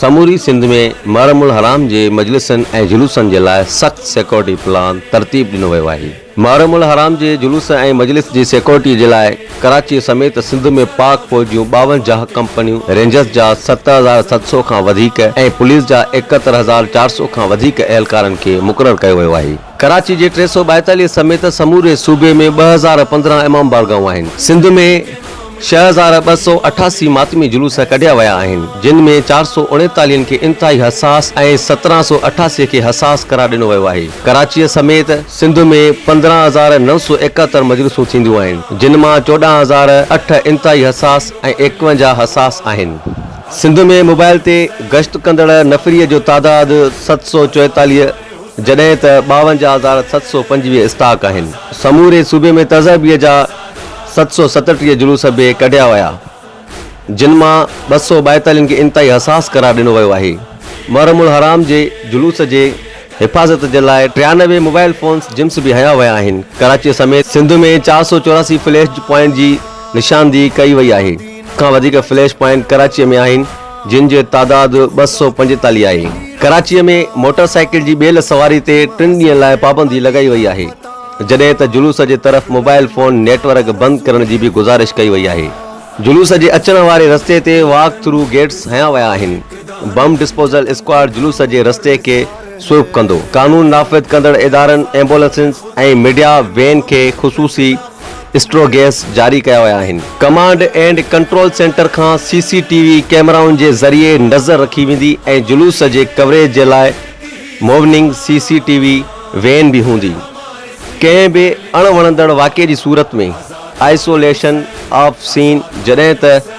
سموري سنڌ ۾ محرم الحرام جي مجلسن ۽ جلوسن جي لاء سخت سيڪيورٽي پلان ترتيب ڏنو ويو آهي. محرم الحرام جي جلوس ۽ مجلس جي سيڪيورٽي جي لاء ڪراچي سميت سنڌ ۾ پاڪ فوج جون ٻاونجاهه ڪمپنيون، رينجرز جا ست هزار ست سؤ کان وڌيڪ ۽ پوليس جا ايڪهتر هزار چار سؤ کان وڌيڪ اهلڪارن کي مقرر ڪيو ويو آهي. ڪراچي جي ٽي سؤ ٻائيتاليهه سميت سموري صوبي ۾ ٻه هزار پندرهن امام بارگاهون آهن. سنڌ ۾ ڇهه هزار ٻه سؤ اٺاسي ماتمي جلوس ڪڍيا ويا آهن، جن ۾ چار سؤ اڻيتاليهن کي انتهائي حساس ۽ سترهن سؤ اٺاسي کي حساس قرار ڏنو ويو آهي. ڪراچيء سميت سنڌ ۾ پندرهن هزار نو سؤ ايڪهتر مجلسون ٿينديون آهن، جن مان چوڏهن هزار اٺ انتهائي حساس ۽ ايڪونجاهه حساس آهن. سنڌ ۾ موبائل تي گشت ڪندڙ نفري جو تعداد ست سؤ چوئيتاليهه، جڏهن ته ٻاونجاهه هزار ست سؤ پنجويهه اسٽاڪ آهن. سموري صوبي ۾ تذهبيء جا ست سؤ ستٽيهه جلوس به ڪڍيا ويا، جن مان ٻه سؤ ٻائيتالين کي انتهائي حساس قرار ڏنو ويو آهي. محرم الحرام جي جلوس جي حفاظت جي لاء ٽيانوي موبائل فونز جمس به هنيا ويا آهن. ڪراچيء سميت سنڌ ۾ چار سؤ چوراسي فليش پوائنٽ جي نشاندهي ڪئي وئي آهي. سڀ کان وڌيڪ فليش پوائنٽ ڪراچيء ۾ آهن. جن جو تعداد ٻه سؤ پنجيتاليهه آهي. ڪراچيء ۾ موٽر سائيڪل جي ٻيل سواري تي ٽن ڏينهن لاء پابندي لڳائي وئي آهي، جڏهن ته جلوس جي طرف موبائل فون نيٽ ورڪ بند ڪرڻ جي به گذارش ڪئي وئي آهي. جلوس جي اچڻ واري رستي تي واڪ ٿرو گيٽس هنيا ويا آهن، بم ڊسپوزل اسڪواڊ جلوس جي رستي کي سوئپ ڪندو، قانون نافذ ڪندڙ ادارن، ايمبولنسز ۽ ميڊيا وين کي خصوصي. اسٽرو گئس جاري ڪيا ويا آهن. ڪمانڊ اينڊ ڪنٽرول سينٽر کان سي سي ٽي وي ڪيمرائن جي ذريعي نظر رکي ويندي ۽ جلوس جي ڪوريج جي لاء مووننگ سي سي ٽي وي وين به هوندي. ڪنهن به اڻ وڻندڙ واقعي جي صورت ۾ آئسوليشن آف سين جڏهن ته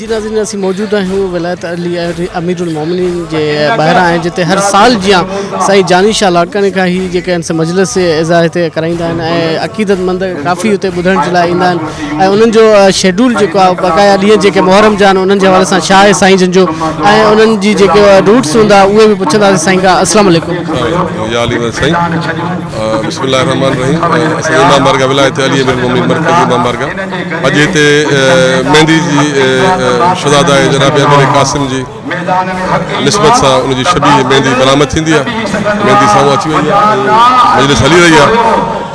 جي ناظرين اسين موجود آهيون ولايت علي امير المومنين جي ٻاهران آهن جتي هر سال جيان سائين جاني شاهه لاڙڪاڻي کان هي جيڪي آهن سي مجلس اعزا هتي ڪرائيندا آهن ۽ عقيدت مند ڪافي هتي ٻڌڻ جي لاء ايندا آهن ۽ انهن جو شيڊول جيڪو آهي بقايا ڏينهن جيڪي محرم جا آهن انهن جي حوالي سان شاهه سائين جن جو ۽ انهن جي جيڪي روٽس هوندا اهي به پڇنداسين سائين کان السلام عليڪم يا علي ون سائين بسم الله الرحمن الرحيم اسان امام بارگاهه ولايت علي امير المومنين مرڪز امام بارگاهه اڄ هتي ميندي جي شھزاده ۽ جناب امير قاسم جي نسبت سان ان جي شبيهه ميندي برآمد ٿيندي آهي ميندي سامهون اچي وئي آهي مجلس هلي رهي آهي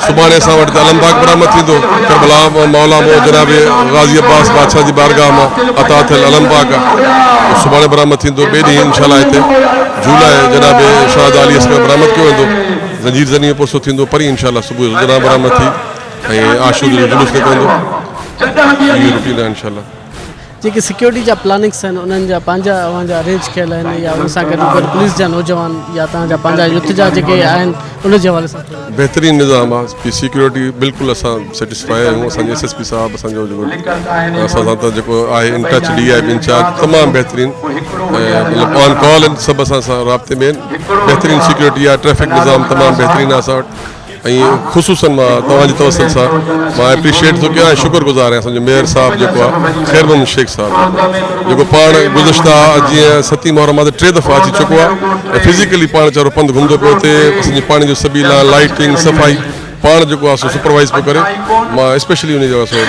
سڀاڻي اسان وٽ ته علم پاڪ برآمد ٿيندو ڪربلا مولا مون جناب غازي عباس بادشاهه جي بارگاهه مان عطا ٿيل علم پاڪ آهي سڀاڻي برآمد ٿيندو ٻئي ڏينهن انشاء الله هتي جھولا جناب شھزاده علي اصغر برآمد ڪيو ويندو زنجير زني ۾ پرسو ٿيندو پرين انشاء الله صبح جو زنان برآمد ٿي ۽ عاشوري جو جلوس نڪرندو اهي روٽين آهن انشاءالله جيڪي سيڪيورٽي جا پلاننگس آهن انهن جا پنهنجا اوهان جا ارينج ڪيل آهن يا ان سان گڏ گڏ پوليس جا نوجوان يا تهان جا پنهنجا يوٿ جا جيڪي آهن ان جي حوالي سان بهترين نظام آهي جي سيڪيورٽي بلڪل اسان سيٽسفائي آهيون اسان جي ايس ايس پي صاحب اسان جو جيڪو اسان سان ته جيڪو آهي ان ٽچ ڊي آء بي انچارج تمام بهترين مطلب آن ڪال سڀ اسان سان رابطي ۾ بهترين سيڪيورٽي آهي ٽريفڪ نظام تمام بهترين آهي اسان وٽ ۽ خصوصن مان توهان جي توسل سان مان اپريشيئيٽ ٿو ڪيان ۽ شڪر گذار آهيان اسان جو ميئر صاحب جيڪو آ خير محمد شيخ صاحب جو جيڪو پاڻ گذشته جيئن ستي محرم آ ته ٽي دفعا اچي چڪو آ ۽ فزيڪلي پاڻ ويچارو پنڌ گهمندو پيو اچي اسان جي پاڻي جو سبيلا لائٽنگ صفائي پاڻ جيڪو آ سو سپروائيز پيو ڪري مان اسپيشلي انهي جو سو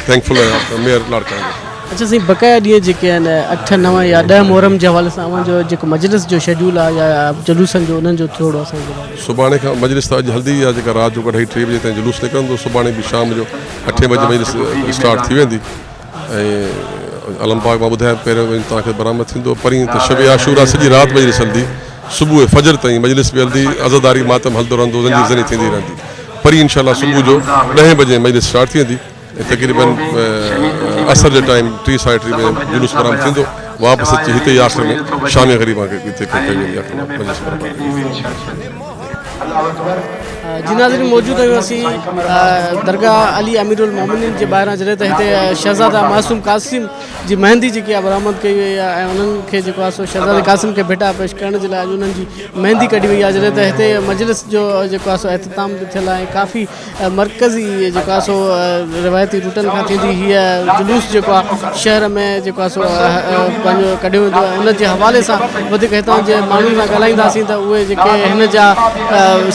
ٿينڪفل آهيان ميئر لاڙڪاڻي جو. اچا سائين بقايا ڏينهن جيڪي آهن اٺ نو يا ڏهه محرم جي حوالي سان اوهان جو جيڪو مجلس جو شيڊيول آ يا جلوسن جو انهن جو ٿورڙو اسان کي ٻڌايو. سڀاڻي کان مجلس ته اڄ هلندي يا جيڪا رات جو اڍائي ٽي بجي تائين جلوس نڪرندو سڀاڻي به شام جو اٺين بجي مجلس اسٽارٽ ٿي ويندي ۽ علم پاڪ مان ٻڌايو پهريون وڃي توهان کي برآمد ٿيندو پرين ته شب عاشورا سڄي رات مجلس هلندي صبح فجر تائين مجلس به هلندي عزاداري ماتم هلندو رهندو زنجير زني ٿيندي رهندي پرين انشاء الله صبح جو ڏهين بجي مجلس اسٽارٽ ٿي ويندي تقريبن عصر جي ٽائيم ٽي ساڍي ٽي بجي جلوس برآمد ٿيندو واپس اچي هتي ئي آخر ۾ شامي غريبان کي هتي ڪئي ويندي آخر ۾ مجلس برآمد ٿيندي جي ناظرين موجود آهيون اسين درگاهه علي امير المومنين جي ٻاهران جڏهن ته هتي شهزاده معصوم قاسم جي مهندي جيڪي برآمد ڪئي وئي آهي ۽ انهن کي جيڪو آهي سو شهزاده قاسم کي ڀيٽا پيش ڪرڻ جي لاء انهن جي مهندي ڪڍي وئي آهي جڏهن ته هتي مجلس جو جيڪو آهي سو احتتام به ٿيل آهي ڪافي مرڪز ئي جيڪو آهي سو روايتي روٽن کان ٿيندي هيء جلوس جيڪو آهي شهر ۾ جيڪو آهي سو پنهنجو ڪڍيو ويندو آهي ان جي حوالي سان وڌيڪ هتان جي ماڻهن سان ڳالهائينداسين ته اهي جيڪي هن جا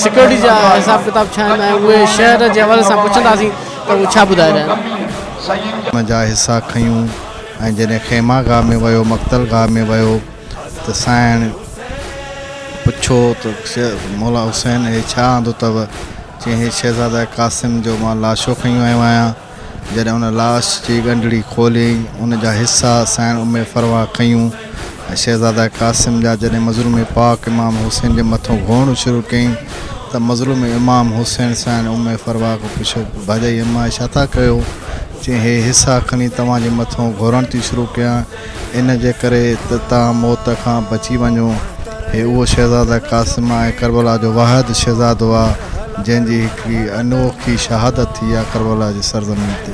سيڪيورٽي جا حساب ڪتاب ڇا آهن ۽ اهي شهر جي حوالي سان پڇنداسين ته اهي ڇا ٻڌائي رهيا آهن. ان جا حصا کنيون ۽ جڏهن خيمه گاهه ۾ ويو مقتل گاهه ۾ ويو ته سائڻ پڇيو ته مولا حسين هي ڇا آندو اٿئو؟ چيائين هي شهزاده قاسم جو مان لاشو کنيو آيو آهيان. جڏهن ان لاش جي ڳنڍڙي کوليائين، ان جا حصا سائڻ امي فروا ڪيون ۽ شهزاده قاسم جا جڏهن مظلوم پاڪ امام حسين جي مٿو گهوئڻو شروع ڪيائين ته مظلوم امام حسين سائڻ امي فروا کان پڇيو ته ڀاڄائي اماء ڇا ٿا ڪيو؟ چيائين هي حصا کني توهان جي مٿو گهورڻ ٿي شروع ڪيان. ان جي ڪري ته توهان موت کان بچي وڃو. هي اهو شهزاده قاسم ۽ ڪربلا جو واحد شهزادو آ، جنهن جي هڪڙي انوکي شهادت ٿي آ ڪربلا جي سرزمين تي.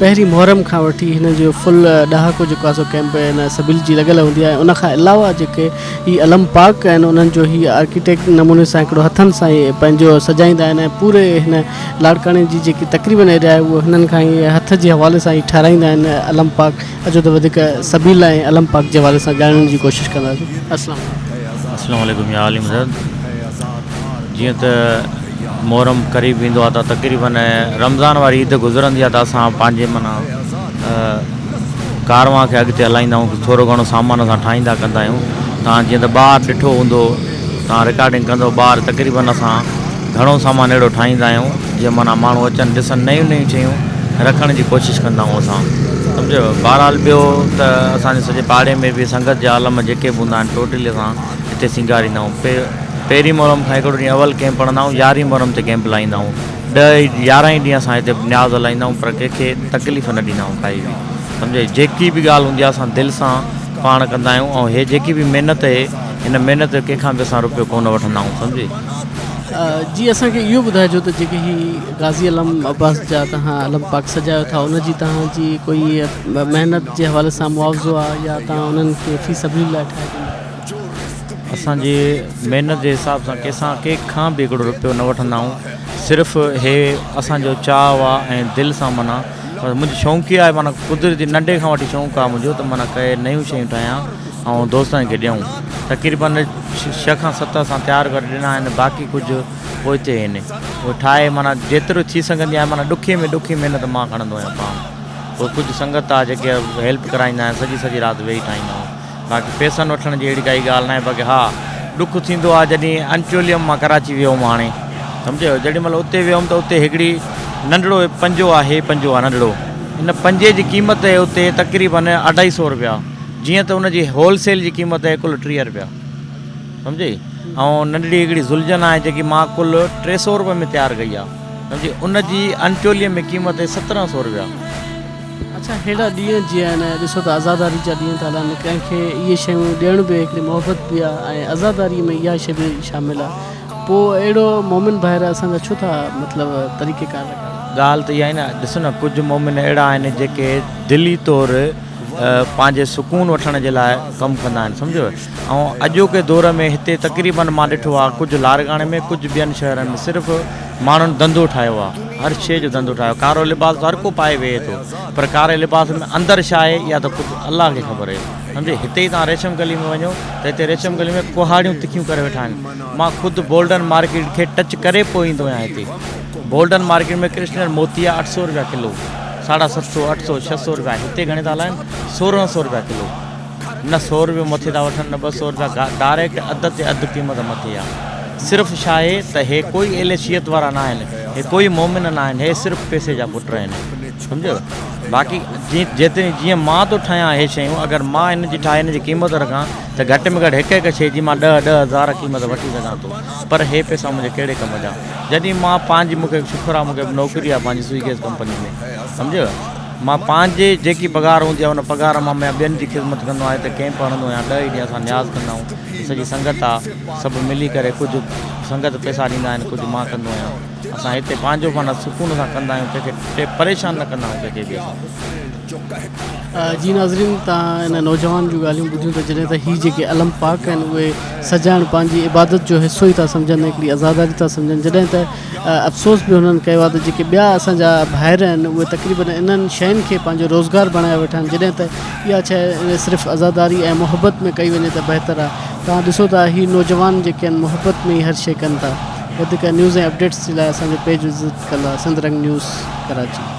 پهرين محرم کان وٺي هن جو فل ڏهاڪو جيڪو آهي سو ڪئمپ هن سبيل جي لڳل هوندي آهي ان کان علاوه جيڪي هي علم پاڪ آهن انهن جو هي آرڪيٽيڪ نموني سان هڪڙو هٿن سان ئي پنهنجو سجائيندا آهن ۽ پوري هن لاڙڪاڻي جي جيڪي تقريبن ايريا آهي اهو هنن کان ئي هٿ جي حوالي سان ئي ٺهرائيندا آهن علم پاڪ اچو ته وڌيڪ سبيل ۽ علم پاڪ جي حوالي سان ڄاڻڻ جي ڪوشش ڪنداسين السلام عليڪم. السلام عليڪم يا عالم زاد جيئن ته محرم قريب ايندو آ ته تقريبن رمضان واري عيد گذرندي آ ته اسان پنهنجي معنيٰ ڪاروان کي اڳتي هلائيندا آهيون ٿورو گهڻو سامان اسان ٺاهيندا ڪندا آهيون توهان جيئن ته ٻاهر ڏٺو هوندو توهان رڪارڊنگ ڪندو ٻاهر تقريبن اسان گهڻو سامان اهڙو ٺاهيندا آهيون جيئن معنيٰ ماڻهو اچن ڏسن نيون نيون شيون رکڻ جي ڪوشش ڪندا آهيون اسان سمجهيو بهرحال ٻيو ته اسان جي سڄي پاڙي ۾ به سنگت جا عالم جيڪي به هوندا آهن ٽوٽلي اسان هتي سينگاريندا آهيون پهرين محرم کان هڪڙو ڏينهن اول ڪئمپ هڻندا آهيون يارهين محرم تي ڪئمپ لائيندا آهيون ڏهه يارهن ئي ڏينهن اسان هتي نياز هلائيندا آهيون پر ڪنهن کي تڪليف نه ڏيندا آهيون ڪائي به سمجهي جيڪي به ڳالهه هوندي آهي اسان دل سان پاڻ ڪندا آهيون ۽ هي جيڪي به محنت اهي هن محنت جو ڪنهن کان به اسان روپيو ڪونه وٺندا آهيون سمجهي جي اسان کي اهو ٻڌائجو ته جيڪي هي غازي علم عباس جا توهان علم پاڪ سجايو ٿا ان جي توهان جي ڪوئي محنت جي حوالي سان معاوضو آهي يا توهان انهن کي في سبيل الله ٺاهي ڏيندا اسان جي محنت جي حساب سان ڪنهن سان ڪنهن کان به هڪڙو روپيو نه وٺندا آهيون صرف هي اسان جو چاهه آهي ۽ دل سان منا منهنجي شونق هي آهي منا قدرتي ننڍي کان وٺي شونق آهي منهنجو ته منا ڪئي نيون شيون ٺاهيان ۽ دوستن کي ڏيون تقريبن ڇهه کان ست اسان تيار ڪري ڏنا آهن باقي ڪجهه پوئتي آهن هو ٺاهي منا جيترو ٿي سگهندي آهي منا ڏکي ۾ ڏکي محنت مان کڻندو آهيان پاڻ پوء ڪجهه سنگت آهي جيڪي هيلپ ڪرائيندا آهن سڄي سڄي رات ويهي ٺاهيندا آهن باقي پيسن وٺڻ جي اهڙي ڪائي ڳالهه ناهي باقي ها ڏک ٿيندو آهي جڏهن انٽيوليم مان ڪراچي ويو هوم هاڻي سمجهيو جڏهن مل اتي ويو هوم ته اتي هڪڙي ننڍڙو پنجو آهي پنجو آهي ننڍڙو ان پنجي جي قيمت آهي اتي تقريبا اڍائي سو روپيا جيئن ته ان جي هولسيل جي قيمت آهي ڪل ٽيهه روپيا سمجهي ۽ ننڍڙي هڪڙي زلجن آهي جيڪي مان ڪل ٽي سو روپئي ۾ تيار ڪئي آهي سمجهي ان جي انٽيوليم ۾ قيمت آهي سترهن سو روپيا اڇا هيڏا ڏينهن جيئا آهن ۽ ڏسو ته عزاداري جا ڏينهن ٿا هلن. ڪنهن کي اهي شيون ڏيڻ به هڪڙي محبت به آ ۽ عزاداري ۾ اها شي به شامل آ. پوء اهڙو مومن ڀائر اسان جا ڇو ٿا مطلب طريقه ڪار لڳاڙن. ڳالهه ته اها آهي نه. ڏس نه ڪجهه مومن اهڙا آهن جيڪي دلي طور پنهنجي سڪون وٺڻ جي لاء ڪم ڪندا آهن سمجهيو ۽ اڄوڪي دور ۾ هتي تقريبن مان ڏٺو آ ڪجهه لارڳاڻي ۾ ڪجهه ٻين شهرن ۾ صرف ماڻهن ڌنڌو ٺاهيو آ هر شيء جو ڌنڌو ٺاهيو ڪارو لباس ته هر ڪو پائي ويهي ٿو پر ڪاري لباس ۾ اندر ڇا آهي اها ته خود الله کي خبر اهي سمجهي هتي ئي توهان ريشم گلي ۾ وڃو ته هتي ريشم گلي ۾ ڪهاڙيون تکيون ڪري ويٺا آهن مان خود بولڊن مارڪيٽ کي ٽچ ڪري پوء ايندو آهيان هتي بولڊن مارڪيٽ ۾ ڪرشنر موتيا اٺ سئو رپيا ڪلو ساڍا ست سئو اٺ سئو ڇهه سئو رپيا هتي گهڻي ٿا هلائن سورهن سئو رپيا ڪلو نه سو روپيو مٿي ٿا وٺن نه ٻه سو روپيا گاهه ڊائريڪٽ اڌ تي اڌ قيمت مٿي آ صرف ڇاهي ته هي ڪوئي اهل شيعت وارا ناهن هي ڪوئي مومن ناهن هي صرف پيسي جا پٽ آهن سمجهيو باقي جيتري جيئن مان ٿو ٺاهيان هي شيون اگر مان هن جي ٺاهي هن جي قيمت رکان ته گهٽ ۾ گهٽ هڪ هڪ شيء جي مان ڏهه ڏهه هزار قيمت وٺي سگهان ٿو پر هي پيسا منهنجي ڪهڙي ڪم جا جڏهن مان پنهنجي مون کي شڪر آ مون کي نوڪري آ پنهنجي سوئي گيس ڪمپني ۾ سمجهيو مان پنهنجي جيڪي پگهار هوندي آهي ان پگهار مان مان ٻين جي خدمت ڪندو آهيان هتي ڪئمپ هڻندو آهيان ڏهه ئي ڏينهن اسان نياز ڪندا آهيون سڄي سنگت آ سڀ ملي ڪري ڪجهه سنگت پئسا ڏيندا آهن ڪجهه مان ڪندو آهيان اسان هتي پنهنجو معنيٰ سڪون سان ڪندا آهيون ڪنهن کي پريشان نه ڪندا آهيون ڪنهن کي به اسان جي ناظرين تان ان نوجوان جون ڳالهيون ٻڌيون ته جڏهن ته هي جيڪي علم پاڪ آهن اهي سجائڻ پنهنجي عبادت جو حصو ئي ٿا سمجهن هڪڙي عزاداري ٿا سمجهن جڏهن ته افسوس به هنن ڪيو آهي ته جيڪي ٻيا اسان جا ڀائر آهن اهي تقريبن انهن شين کي پنهنجو روزگار بڻايو ويٺا آهن جڏهن ته اها شيء صرف عزاداري ۽ محبت ۾ ڪئي وڃي ته بهتر آهي توهان ڏسو ته هي نوجوان جيڪي آهن محبت ۾ ئي هر شيء ڪن ٿا وڌيڪ نيوز ۽ اپڊيٽس جي لاء اسان جو پيج وزٽ ڪندا سنڌرنگ نيوز ڪراچي.